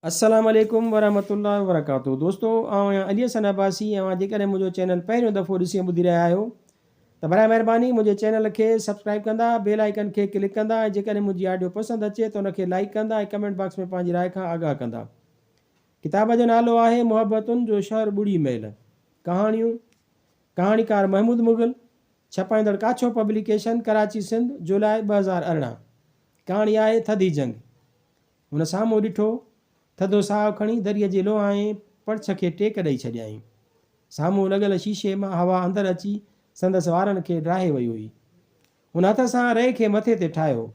السلام عليڪم ورحمة الله وبرڪاته دوستو آئون آهيان علي حسن عباسي ۽ اوهان جيڪڏهن منهنجو چينل پهريون دفعو ڏسي ۽ ٻڌي رهيا آهيو ته برائي مهرباني منهنجي چينل کي سبسڪرائب ڪندا بيل آئيڪن کي ڪلڪ ڪندا ۽ جيڪڏهن منهنجي آڊيو پسند اچي ته ان کي لائيڪ ڪندا ۽ ڪمينٽ باڪس ۾ پنهنجي راء کان آگاهه ڪندا ڪتاب جو نالو آهي محبتن جو شهر ٻڙي ميل ڪهاڻيون ڪهاڻيڪار محمود مغل ڇپائيندڙ ڪاڇو پبليڪيشن ڪراچي سنڌ جولاء ٻه هزار ارڙهن ڪهاڻي آهي ٿڌي جنگ هن سامهون ڏٺو. ٿڌو ساهه کڻي دريء جي لوهائين پڙڇ کي ٽيڪ ڏئي ڇڏيائين. سامهون لڳل شيشي مان هوا اندر اچي سندس وارن کي ڊاهي وئي هئي. هن هٿ سان رئي کي مٿي تي ٺاهيو.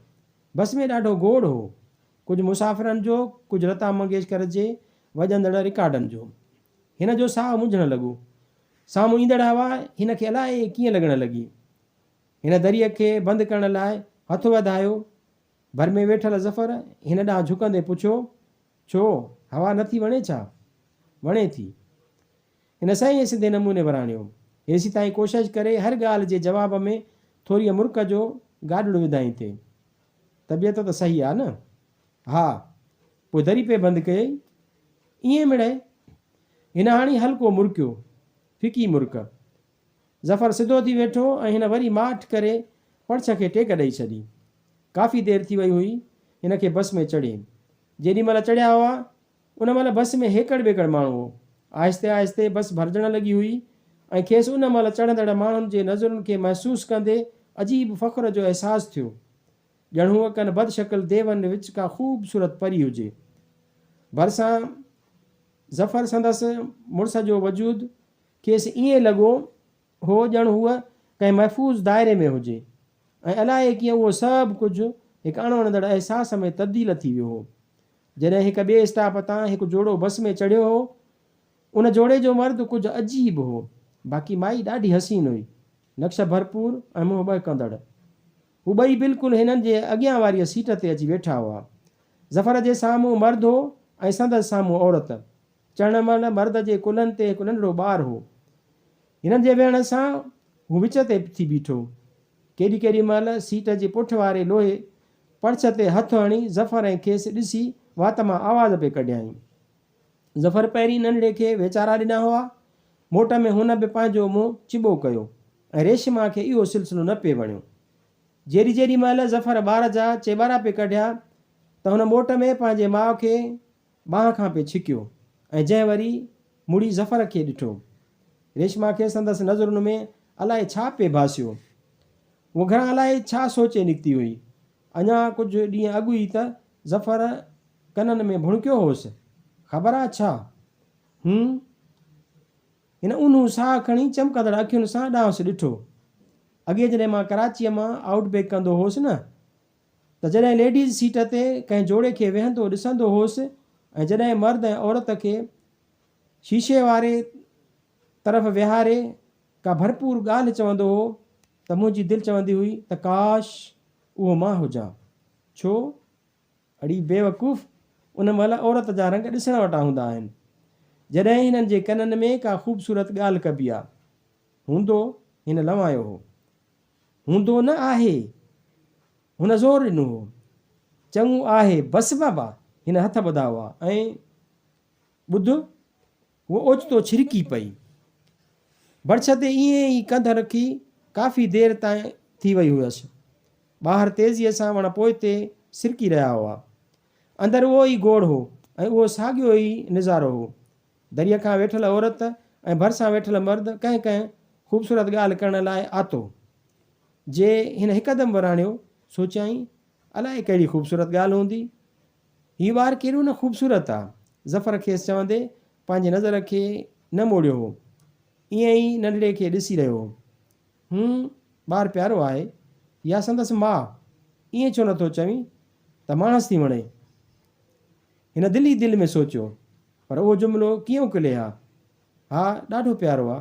بس ۾ ڏاڍو گوڙ هو. ڪجهه مسافرن جو، ڪجهه لتا منگيشڪر جي وڄندڙ رڪارڊن جو. هن جو ساهه منجهڻ لڳو. سامهون ايندڙ هوا هن کي الائي ڪيئن لڳڻ لڳي. هن دريء کي بند ڪرڻ لاء هٿ وڌايو ڀر ۾ ويٺل ظفر هن ڏانهن جهڪندي پڇيو، ڇو، هوا نه ٿي وڻي ڇا؟ وڻي ٿي. هن سهي سڌي نموني وراڻيو. هيسي تائين ڪوشش ڪري هر ڳالهه جي جواب ۾ ٿوريء مرڪ جو گاڏڙو وڌائين ٿي. طبيعت ته سهي آ نه؟ ها. پوء دري پئي بند ڪيئي؟ ائين مڙئي. هن هاڻي هلڪو مرڪيو. ڦڪي مرڪ. ظفر سڌو ٿي ويٺو ۽ هن وري ماٺ ڪري پڙڇ کي ٽيڪ ڏئي ڇڏي. ڪافي دير ٿي وئي هئي هن کي بس ۾ چڙهي. جيڏي مهل چڙهيا هئا ان مهل بس ۾ هيڪڙ ٻيڪڙ ماڻهو هو. آهستي آهستي بس ڀرجڻ لڳي هئي ۽ کيس ان مهل چڙهندڙ ماڻهن جي نظرن کي محسوس ڪندي عجيب فخر جو احساس ٿيو. ڄڻ هوء ڪن بد شڪل ديون وچ ڪا خوبصورت پري هجي. ڀرسان ظفر سندس مڙس جو وجود کيس ائين لڳو هو ڄڻ هوء ڪنهن محفوظ دائري ۾ هجي ۽ الائي ڪيئن اهو سڀ ڪجهه هڪ اڻ وڻندڙ احساس ۾ تبديل ٿي ويو هو. جڏهن هڪ ٻئي اسٽاپ تان هڪ جوڙو بس ۾ چڙهيو هو. ان جوڙي جو مرد ڪجهه عجيب هو. باقي مائي ڏاڍي حسين هئي. نقش ڀرپور ۽ منهن ٻهڪندڙ. هو ٻئي بلڪل هنن جي اڳيان واريء سيٽ تي اچي ويٺا هئا. ظفر جي سامهون مرد هو ۽ سندس سامهون عورت. چڙهڻ مهل مرد جي ڪلهن تي هڪ ننڍڙو ٻار هو. هنن جي ويهڻ سان هو وچ تي ٿي بيٺو. ڪيڏي ڪيڏي مهل سيٽ جي پٺ واري لوهي پڙڇ تي هٿ هڻي ظفر ۽ کيس ڏسي وات مان آواز پئي ڪڍيائين. ظفر پهرين ننڍڙي کي ويچارا ڏنا هئا. موٽ ۾ هن به پنهنجو منهن چٻو ڪيو ۽ ريشما کي اهو سلسلو نه پئي وڻيو. جيڏي جيڏي مهل ظفر ٻار جا چيٻارا پئي ڪڍيا ته هن موٽ ۾ پنهنجي ماء کي ٻانهن کان پئي ڇڪيو ۽ جنهن وري مڙي ظفر کي ڏٺو. ريشما کي سندس نظرن ۾ الائي ڇا پئي ڀاسيو. هوء گهران الائي ڇا سوچي نڪتي هئي. اڃا ڪجهه ڏينهن اڳ ئي ته ظفر ڪنن ۾ ڀڻڪيو هوس. خبر آ ڇا؟ هن هن اونهون ساهه کڻي چمڪندڙ اکين سان ڏانهس ڏٺو. اڳي جڏهن مان ڪراچيء مان آئوٽ بيڪ ڪندو هوس نه ته جڏهن ليڊيز سيٽ تي ڪنهن جوڙي کي ويهندو ڏسندو هوس ۽ جڏهن مرد ۽ عورت کي شيشي واري طرف ويهاري ڪا ڀرپور ڳالهه چوندو هو ته منهنجي دل چوندي هئي ته ڪاش اهو مان هجان ڇو اڙي بيوقوف ان مهل عورت جا رنگ ڏسڻ وٽان هوندا آهن جڏهن هنن جي ڪنن ۾ ڪا خوبصورت ڳالهه ڪبي آ هوندو هن لنوايو هو. هوندو نه آهي. هن زور ڏنو هو. چڱو آهي. بس بابا! هن هٿ ٻڌا هئا ۽ ٻڌ هوء اوچتو ڇرڪي پئي. برڇ تي ائين ئي ڪنڌ رکي ڪافي دير تائين ٿي وئي هئس. ٻاهر تيزيء سان وڻ پوئتي سرڪي رهيا هئا. اندر اهو ئي گوڙ هو ۽ اهو ساڳيو ئي نظارو هو. دريء کان ويٺل عورت ۽ ڀرسان ويٺل مرد ڪنهن ڪنهن خوبصورت ڳالهه ڪرڻ لاء آتو. جي هن هڪدم وراڻيو، سوچيائين، الائي ڪهڙي خوبصورت ڳالهه هوندي؟ هي ٻار ڪيڏو نه خوبصورت آ! ظفر کيس چوندي پنهنجي نظر کي نه موڙيو هو. ائين ئي ننڍڙي کي ڏسي رهيو هو. هون ٻار پيارو آهي يا سندس ماء ائين ڇو نٿو چوين ته ماڻس ٿي وڻي؟ هن دل ئي دل ۾ سوچيو، پر اهو جملو ڪيئن اڪلي ها؟ ها، ڏاڍو پيارو آ.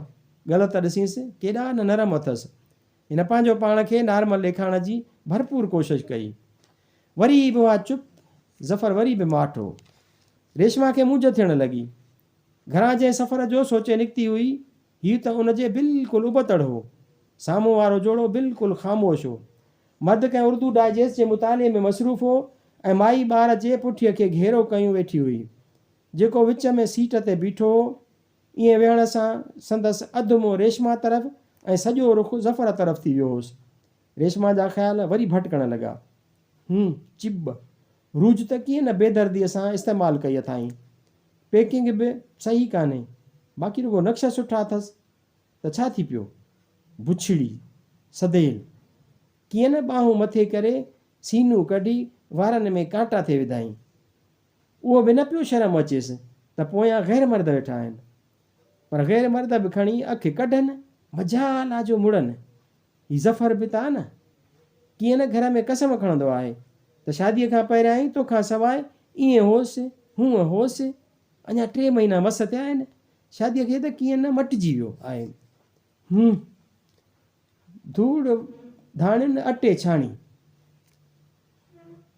ڳل ته ڏسينس، ڪيڏا نه نرم اٿس. هن پنهنجو پاڻ کي نارمل ڏيکارڻ جي ڀرپور ڪوشش ڪئي. وري ئي به اها چپ، ظفر وري به ماٺو. ريشما کي موجهه ٿيڻ لڳي. گهران جنهن سفر جو سوچي نڪتي هئي، هي ته ان جي بلڪل ابتڙ هو. سامهون وارو جوڙو بلڪل خاموش هو. مرد ڪنهن اردو ڊائجيسٽ جي مطالعي ۾ مصروف هو ۽ مائي ٻار جي پٺيء کي گهيرو ڪيون ويٺي هئي. جيڪو وچ ۾ سيٽ تي بيٺو هو. ائين ويهڻ سان سندس اڌ منهن ريشما طرف ۽ سڄو رخ ظفر طرف ٿي ويو هوس. ريشما جا خيال وري ڀٽڪڻ لڳا. هن چيب روج ته ڪيئن نه بيدرديء سان استعمال ڪئي اٿائين. پيڪنگ به صحيح ڪانهي، باقي رڳو نقشا سٺا اٿس ته ڇا ٿي پيو؟ بڇڙي، سديل، ڪيئن نه ٻانهون مٿي ڪري، سينون ڪڍي، وارن ۾ ڪانٽا ٿي وڌائين. اهو به نه پيو شرم اچيس ته پويان غير مرد ويٺا آهن. پر غير مرد به کڻي اک ڪڍن، مجال آ جو مڙن. هي ظفر به ته آ نه. ڪيئن نه گهر ۾ قسم کڻندو آهي ته شاديء کان پهريائين تو کان سواء ائين هوس، هونء هوس. اڃا ٽي مهينا مس ٿيا آهن شاديء کي ته ڪيئن نه مٽجي ويو آهين. هوم. ڌوڙ ڌاڻين اٽي ڇاڻي.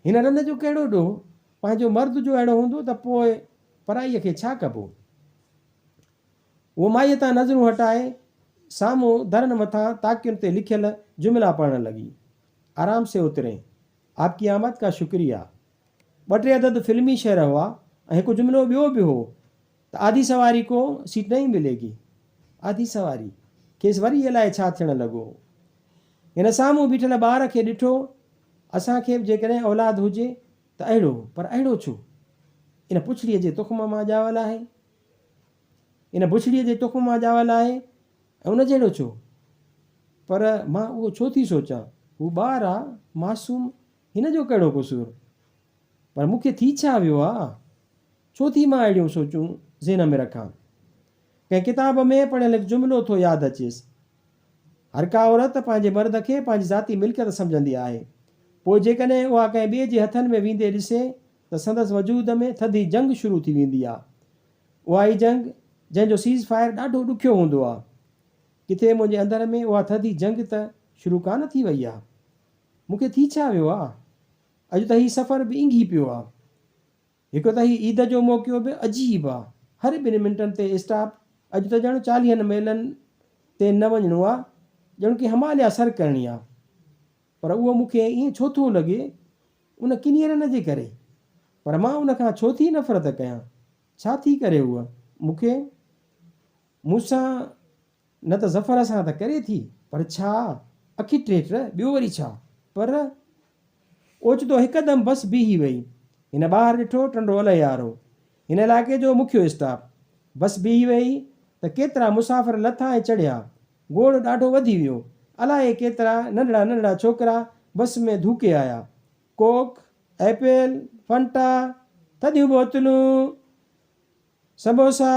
هن رند جو ڪهڙو ڏوهه؟ پنهنجو مرد جو اهڙو هوندو ته پوء پرائيء کي ڇا ڪبو؟ هو مائيء تان نظرون هٽائي سامهون درن مٿان تاڪين تي لکيل جملا پڙهڻ لڳي، آرام سي اترين، آپ ڪي آمد ڪا شڪريه. ٻه ٽي عدد فلمي شعر هئا ۽ هڪ جملو ٻيو به هو ته آڌي سواري ڪو سيٽ نهين ملي گي. آڌي سواري! کيس وري الائي ڇا ٿيڻ لڳو هو. هن سامهون بيٺل ٻار کي ڏٺو، اسان کي به جيڪڏهن اولاد هجي ته اهڙو، پر اهڙو ڇو؟ ان پڇڙيء جي تخم مان ڄاول آهي. ان بڇڙيء جي تخم مان ڄاول آهي ۽ ان جهڙو ڇو؟ پر مان اهو ڇو ٿي سوچان؟ هو ٻار آ، معصوم، هن جو ڪهڙو قصور؟ پر مون کي ٿي ڇا ويو آ؟ ڇو ٿي مان اهڙيون سوچون ذهن ۾ رکان؟ ڪنهن ڪتاب ۾ پڙهيل هڪ جملو ٿو ياد اچيس، هر ڪا عورت پنهنجي مرد کي پنهنجي ذاتي ملڪيت سمجهندي آهي، پوء جيڪڏهن اها ڪنهن ٻئي جي هٿن ۾ ويندي ڏسي ته سندس وجود ۾ ٿڌي جنگ شروع ٿي ويندي آ. اها ئي جنگ جنهن جو سيز فائر ڏاڍو ڏکيو هوندو آ. ڪٿي منهنجي اندر ۾ اها ٿڌي جنگ ته شروع ڪانه ٿي وئي آ. مون کي ٿي ڇا ويو آ؟ اڄ ته هي سفر به اينگهي پيو آ. هڪ ته هي عيد جو موقعو به عجيب آ. هر ٻن منٽن تي اسٽاپ. اڄ ته ڄڻ چاليهن ميلن تي نه وڃڻو آ. ڄڻ ڪي هماليا سر ڪرڻي آ. پر اهو مون کي ائين ڇو ٿو لڳي؟ ان ڪني رن جي ڪري؟ پر مان ان کان ڇو ٿي نفرت ڪيان؟ ڇا ٿي ڪري هوء مون کي؟ مون سان نه ته ظفر سان ته ڪري ٿي، پر ڇا اکي ٽيٽر، ٻيو وري ڇا؟ پر اوچتو هڪدم بس بيهي وئي. هن ٻاهر ڏٺو، ٽنڊو الهيار هو. هن علائقي جو مکيو اسٽاپ. بس بيهي ويئي ته ڪيترا مسافر لٿا ۽ چڙهيا. گوڙ ڏاڍو وڌي ويو. الائي ڪيترا ننڍڙا ننڍڙا ڇوڪرا بس ۾ ڌوڪي آيا. ڪوڪ، ايپل، فنٽا، ٿڌيون بوتلون، سموسا،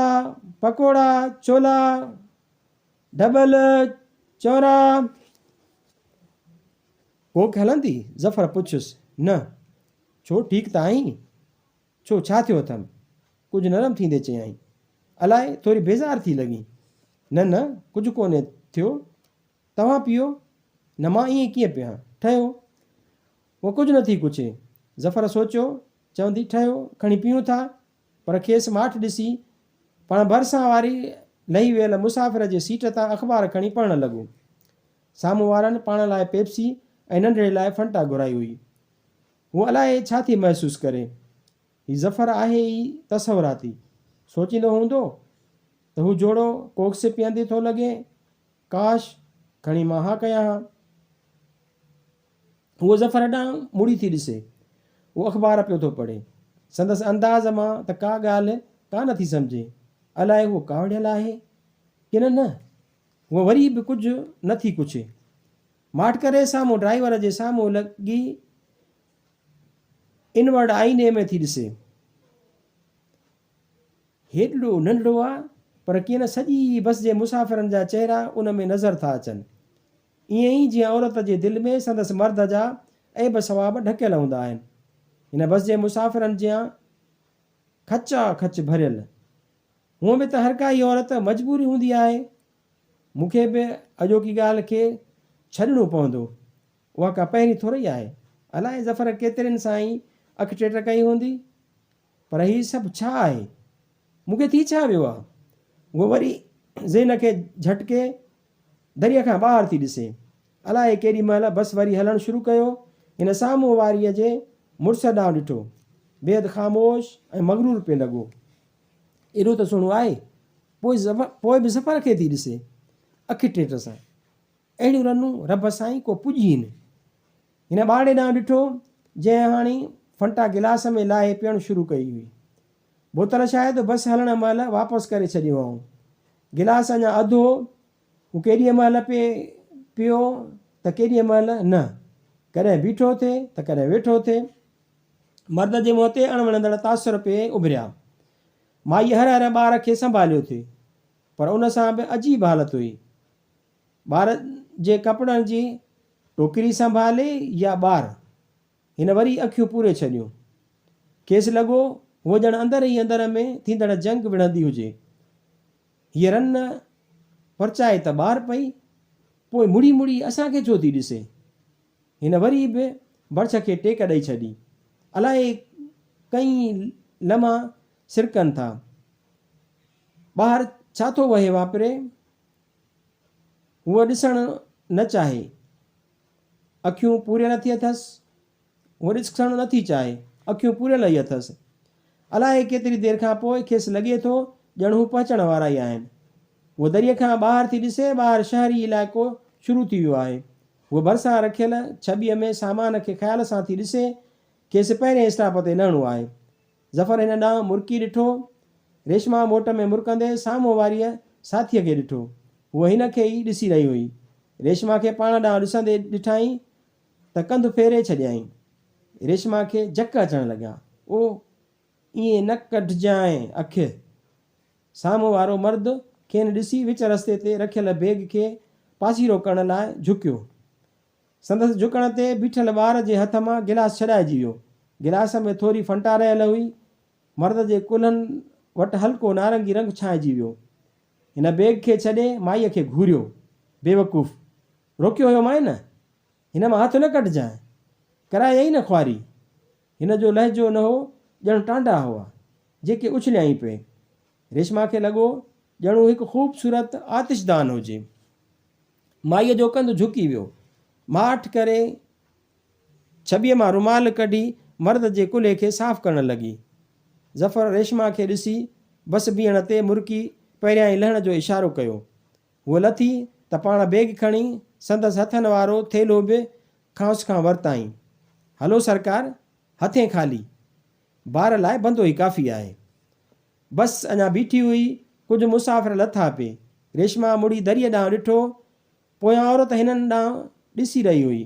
پڪوڙا، ڇولا، ڍٻل، چورا. ڪوڪ هلندي ظفر پڇيس، نه، ڇو ٺيڪ ته آهين؟ ڇو، ڇا ٿيو اٿم؟ ڪجهه نرم ٿيندي چيائين. الاء ٿوري بيزار ٿي لڳين. نه نه، ڪجهه ڪونهي ٿيو. توهان پيئو نه مان ائين ڪيئن پيهان؟ ٺهيو. هوء ڪجهه نه ٿي ڪڇي. ظفر سوچيو چوندي ٺهيو کڻي پيئون ٿا پر کيس ماٺ ڏسي پاڻ ڀرسان واري لهي ويل مسافر جي سيٽ تان اخبار کڻي پڙهڻ لڳو. سامهون وارن پاڻ لاء پيپسي ۽ ننڍڙي لاء فنٽا گهرائي هئي. هو الائي ڇا ٿي محسوس ڪري. هي ظفر آهي ئي تصوراتي. سوچيندو هوندو ته هو جوڙو ڪوڪس پيئندي ٿو لڳي. ڪاش! کڻي مان ها ڪيان ها. هو ظفر ڏانهن مڙي ٿي ڏسي. هو اخبار پيو ٿو پڙهي. سندس انداز مان ته ڪا ڳالهه ڪا نه ٿي سمجهي. الائي هو ڪاوڙيل آهي ڪن نه. هوء وري به ڪجهه نه ٿي ڪڇي. ماٺ ڪري سامهون ڊرائيور جي سامهون لڳي انورڊ آئيني ۾ ٿي ڏسي. هيڏڙو ننڍڙو آ پر ڪين سڄي بس جي مسافرن جا چهرا ان ۾ نظر ٿا اچن. ائين ئي جيئن عورت جي دل ۾ سندس مرد جا عيب ثواب ڍڪيل هوندا آهن. هن بس جي مسافرن جيان کچا کچ ڀريل. هونء به ته هرڪا ئي عورت مجبوري هوندي آهي مون کي به اڄوڪي ڳالهه کي ڇڏڻو پوندو. اها ڪا پهرين ٿورئي آهي. الاء ظفر ڪيترين سان ئي اک ٽيٽ ڪئي هوندي. پر هي سڀ ڇا آهي؟ مون کي ٿي ڇا ويو آهي؟ هوء وري ذهن کي جهٽڪي دريء کان ٻاهر ٿي ڏسي. الاء ڪيڏي مهل بس وري هلڻ شروع ڪيو. هن سامهون واريء جي مڙس ڏانهن ڏٺو. بيحد خاموش ۽ مغرور پئي لڳو. ايڏو ته سهڻو آهي. پوء پوء به ظفر کي ٿي ڏسي اکي ٽيٽ سان. اهڙيون رنون رب سائين ڪو پڄين. هن ٻارڙي ڏانهن ڏٺو، جنهن هاڻي فنٽا گلاس ۾ لاهي پيئڻ شروع ڪئي هئي. بوتل شايد بس هلڻ مهل واپس ڪري ڇڏيو هئائون. گلاس اڃا اڌ هو. هو ڪيڏيء مهل پئي پيو ته ڪيڏيء مهل نه. ڪڏهن بيٺو ٿي ته ڪڏهن ويٺو ٿي. مرد جي منهن تي اڻ وڻندڙ تاثر پئي اڀريا. مائيء هر هر ٻار کي سنڀاليو ٿي پر ان سان به عجيب حالت هئي. ٻار جي ڪپڙن جي ٽوڪري سنڀالي يا ٻار، هن وري اکيون پوري ڇڏيون. کيس لڳو هوء ڄڻ اندر ئي اندر ۾ ٿيندڙ جنگ وڙهندي هجي. هيء رن پرچائي ته ٻار پئي، پوء مڙي مڙي اسان کي ڇو ٿي ڏسي؟ هن وري به برڇ کي ٽيڪ ڏئي ڇڏي. الائي ڪئي لمحا سرڪن ٿا. ٻاهر ڇا ٿو وهي واپري؟ هوء ڏسڻ نه چاهي. اکيون پوريل اٿي اٿس. هوء ڏسڻ نه ٿي چاهي. اکيون پوريل ئي اٿس. الائي ڪيتري دير کان پوء کيس لڳي ٿو ڄڻ هو پهچڻ وارا ئي آهن. هوء دريء کان ٻاهر ٿي ڏسي، ٻاهر شهري علائقو شروع ٿي ويو آهي. هوء ڀرسان رکيل ڇٻيء ۾ سامان کي خيال سان ٿي ڏسي. کيس پهرين اسٽاپ تي لهڻو آهي. ظفر هن ڏانهن مرڪي ڏٺو. ريشما موٽ ۾ مرڪندي سامهون واريء ساٿيء کي ڏٺو. هوء هن کي ئي ڏسي رهي هئي. ريشما کي پاڻ ڏانهن ڏسندي ڏٺائين ته ڪنڌ ڦيري ڇڏيائين. ريشما کي جهڪ اچڻ لڳا. اوه! ائين نه ڪڍجانء اک. سامهون وارو مرد کين ڏسي وچ رستي تي رکيل بيگ کي پاسيرو ڪرڻ لاء جهڪيو. سندس جهڪڻ تي بيٺل ٻار جي هٿ مان گلاس ڇڏائجي ويو. گلاس ۾ ٿوري فنٽا رهيل هئي. مرد جي ڪلهن وٽ هلڪو نارنگي رنگ ڇانئجي ويو. هن بيگ کي ڇڏي مائيء کي گهوريو. بيوقوف! روڪيو هيومانء نه! هن مان هٿ نه ڪڍجانء! ڪرائينء نه خواري! هن جو لهجو نه هو، ڄڻ ٽانڊا هئا، جيڪي اڇليائين پئي. ريشما کي لڳو ڄڻ هو هڪ خوبصورت آتشدان هجي. مائيء جو ڪنڌ جهڪي ويو. ماٺ ڪري ڇٻيء مان رومال ڪڍي مرد جي ڪلهي کي صاف ڪرڻ لڳي. ظفر ريشما کي ڏسي بس بيهڻ تي مرڪي پهريائين لهڻ جو اشارو ڪيو. هوء لٿي ته پاڻ بيگ کڻي سندس هٿن وارو ٿيلهو به کانئس کان ورتائين. هلو سرڪار، هٿين خالي. بار لاء بندو ئي ڪافي آهي. بس اڃا بيٺي هئي، ڪجهه مسافر لٿا پي. ريشما مڙي دريء ڏانهن ڏٺو. پويان عورت هنن ڏانهن ڏسي رهي هئي.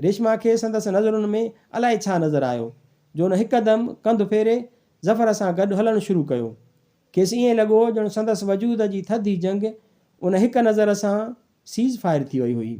ريشما کي سندس نظرن ۾ الائي ڇا نظر آيو، جو ان هڪدم ڪنڌ ڦيري ظفر سان گڏ هلڻ شروع ڪيو. کيس ائين لڳو ڄڻ سندس وجود جي ٿڌي جنگ ان هڪ نظر سان سيز فائر ٿي وئي هئي.